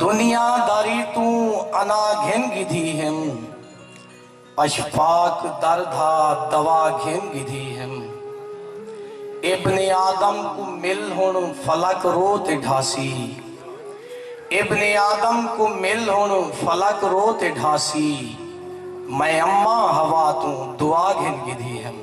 دنیا داری توں انا گھن گھدی ہیم۔ اشفاق در دھا دوا گھن گھدی ہیم۔ ابن آدم کوں مل ہن فلک رو تے ڈھاسی۔ ابن آدم کوں مل ہن فلک رو تے ڈھاسی۔ میں اماں حوا توں دعا گھن گھدی ہیم۔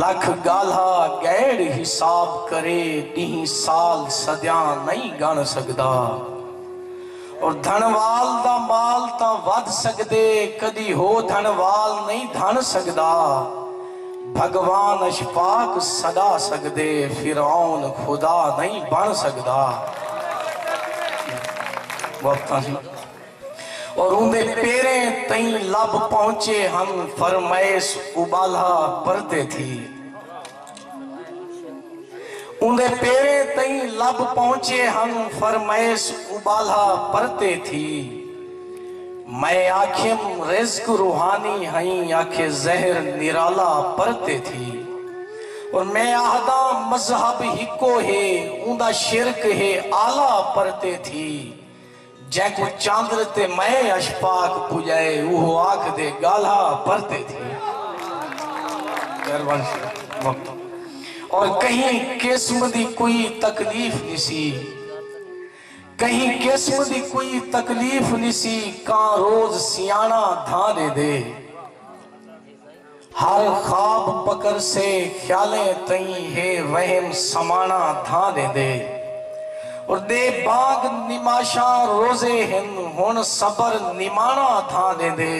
لکھ ڳالھا ڳئڑ حساب کرے ݙینہہ سال صدیاں نئیں ڳݨ سڳدا اور دھݨوال دا مال تاں ودھ سڳدے کݙی ہو دھݨوال نئیں دھݨ سڳدا بھڳوان اشفاق سݙا سڳدے فرعون خدا نئیں بݨ سڳدا۔ او روندے پیریں تئیں لب پہنچے ہن فرمائیس ابالھا پرتے تھی اوندے پیریں تئیں لب پہنچے ہن فرمائیس ابالھا پرتے تھی میں آکھیم رزق روحانی ہئیں آکھے زہر نرالا پرتے تھی اور میں آہداں مذہب ہکو ہے اوندا شرک ہے اعلی پرتے تھی جینکوں چاندر تے مئے اشپاک پجائے اوہو آکھ دے گالہا پرتے تھی اور کہیں قسم دی کوئی تکلیف نی سی کہیں قسم دی کوئی تکلیف نی سی کان روز سیانہ دھانے دے ہر خواب پکر سے خیالیں تئیں ہے وہم سمانا دھاں ڈیندے اور دے باغ نماشاں روزے ہن ہن صبر نمانا دھاں ڈیندے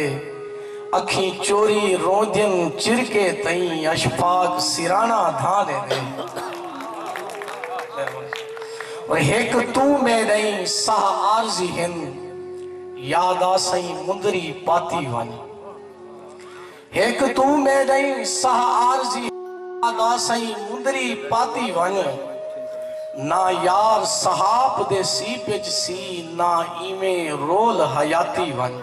اکھیں چوری روندین چرکے تئیں اشفاق سرانا دھاں ڈیندے اور ہک توں میڈئیں ساہ عارضی ہن یاد آسئیں مندری پاتی ونج ہک توں میڈئیں ساہ عارضی ادا سئیں مندری پاتی ونج نہ یار صحاپ دے سی پج سی نہ ایویں رول حیاتی ونج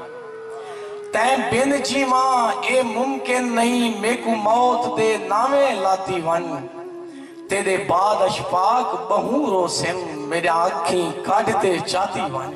تیں بن جیواں اے ممکن نئیں میکوں موت دے ناویں لاتی ونج تیڈے بعد اشپاق بہوں رو سن میڈیاں اکھیں کڈھ تے چاتی ونج۔